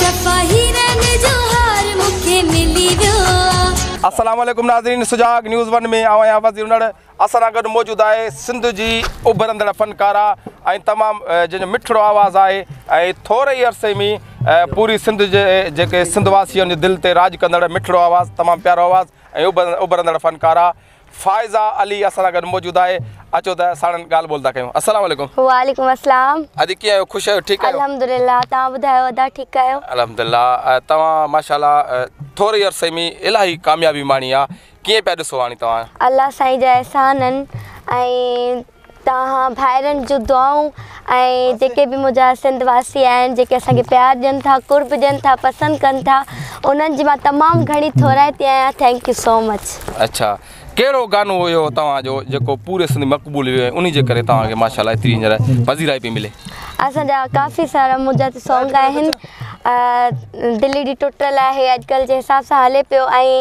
سپاهي رنگ جو هار مون کي ملي ويو آ. السلام عليڪم ناظرين سجاڳ نيوز ون ۾ آئون آهيان وزير انڙ اسان سان گڏ موجود آهي سنڌ جي اڀرندڙ فنڪاره ۽ تمام جنهن جو مٺڙو آواز آهي ۽ ٿوري ئي عرصي ۾ پوري سنڌ جي جيڪي سنڌ واسين جي دل تي راڄ ڪندڙ مٺڙو آواز تمام پيارو آواز ۽ اڀرندڙ فنڪاره فائزه علي اسان سان گڏ موجود آهي اچو ته ساڻن ڳالهه ٻولهه ٿا ڪيون السلام عليڪم. وعليڪم السلام. ادا ڪيئن آهيو خوش آهيو ٺيڪ آهيو. الحمدلله توهان ٻڌايو ادا ٺيڪ آهيو. الحمدلله توهان ماشاءالله ٿوري عرصي ۾ الاهي ڪاميابي ماڻي آهي ڪيئن پيا ڏسو هاڻي توهان. الله سائين جا احسان آهن ۽ توهان ڀائرن جون دعائون ۽ جيڪي به منهنجا سنڌ واسي آهن جيڪي اسان کي پيار ڏين ٿا قرب ڏين ٿا پسند ڪن ٿا انهن جي مان تمام گهڻي ٿورائتي آهيان ٿينڪ يو سو مچ. اڇا ڪهڙو گانو هيو توهان جو جيڪو پوري سنڌ مقبول ويو ۽ انهي جي ڪري توهان کي ماشاء الله ايتري هينئر پذيرائي پئي ملي. اسان جا ڪافي سارا منهنجا ته سونگ آهن دل ايڏي ٽٽل آهي اڄڪلهه جي حساب سان هلي پيو ۽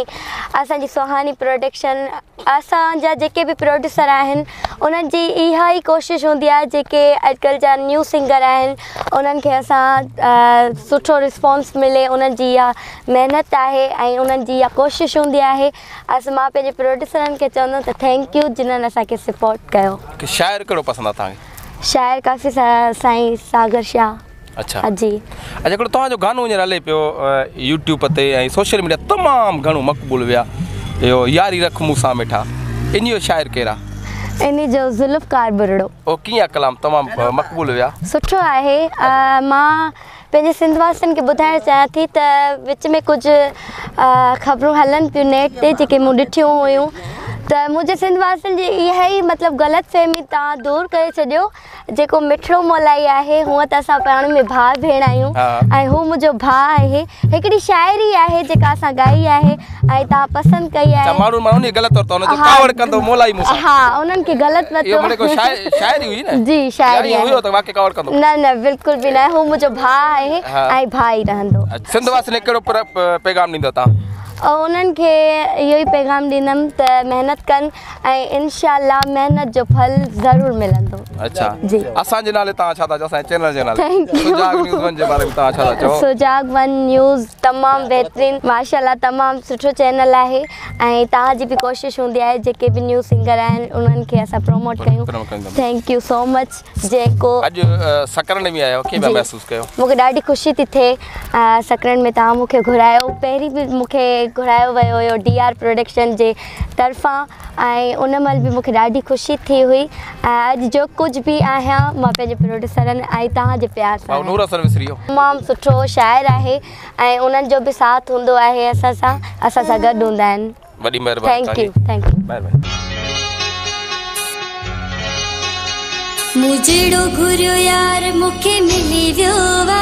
اسان جي سهاني پروڊڪشن اسان جا جيڪي به پروڊيوسر آهن انهن جي اها ئي ڪوشش هوندي آهي جيڪي اڄڪلهه جا نيو سنگر آهن انهن کي اسان سٺو رسپانس ملي انهن جي اها محنت آهي ۽ انهن جي اها ڪوشش هوندي آهي اسان مان پنهنجي پروڊيوسرن کي چوندم ته ٿينڪ يو جنهن اسان کي سپورٽ ڪيو. شاعر ڪهڙو پسند آهي توهان کي؟ شاعر ڪافي سارا سائين ساگر شاهه. اچھا جي اچھا هڪڙو توهان جو گانو هينئر هلي پيو يوٽيوب تي ۽ سوشل ميڊيا تمام گهڻو مقبول ويا اهو ياري رک مون سان مٺا انهي جو شاعر ڪير آ؟ انهي جو ذوالفقار ٻرڙو. او ڪيئن آ ڪلام تمام مقبول ويا. سٺو آهي مان پنهنجي سنڌ واسين کي ٻڌائڻ چاهيان ٿي ته وچ ۾ ڪجهه خبرون هلن ٿيون نيٽ تي جيڪي مون ڏٺيون هيون ته منهنجي سنڌ واسين جي اها ئي مطلب غلط فهمي تان دور ڪري ڇڏيو جيڪو مٺڙو مولائي آهي هونء ته اسان پاڻ ۾ ڀاء ڀيڻ آهيون ۽ هو منهنجو ڀاء آهي هڪڙي شاعري آهي جيڪا اسان ڳائي آهي ۽ تان پسند ڪئي آهي ماڻهن ماڻهن جي غلط ورتو جو ڪاوڙ ڪندو مولائي مون سان ها انهن کي غلط ورتو اهو منهنجو شاعري هئي نه جي شاعري هئي ته واقعي ڪاوڙ ڪندو نه نه بلڪل به نه هو منهنجو ڀاء آهي ۽ ڀاء ئي رهندو سنڌ واسين کي ڪهڙو پيغام ڏيندو تان انهن کي اهو ئي پيغام ڏيندم ته محنت ڪن ۽ انشاء الله محنت جو ڦل ضرور ملندو. اچھا جي اسان جي نالي تان ڇا ٿا چئو اسان جي چينل جي نالي سجاڳ نيوز ون جي باري ۾ تان ڇا ٿا چئو. سجاڳ ون نيوز تمام بهترين ماشاءالله تمام سٺو چينل آهي ۽ تان جي به ڪوشش هوندي آهي جيڪي به نيو سنگر آهن انهن کي اسان پروموٽ ڪيون ٿينڪ يو سو مچ جيڪو اڄ سڪرنڊ ۾ آيو ڪي محسوس ڪيو مونکي ڏاڍي خوشي ٿي ٿئي سڪرنڊ ۾ تان مونکي گهرايو پهرين به مونکي گهرايو ويو هيو ڊي آر پروڊڪشن جي طرفان ۽ ان مهل به مون کي ڏاڍي خوشي ٿي هئي ۽ اڄ جو ڪجهه به آهيان مان پنهنجي پروڊيوسرن ۽ توهان جي پيار سان آهيان. تمام سٺو شاعر آهي ۽ انهن جو به ساٿ هوندو آهي اسان سان اسان سان گڏ هوندا آهن. وڏي مهرباني توهانجي. مون جهڙو گهريو يار مون کي ملي ويو وا.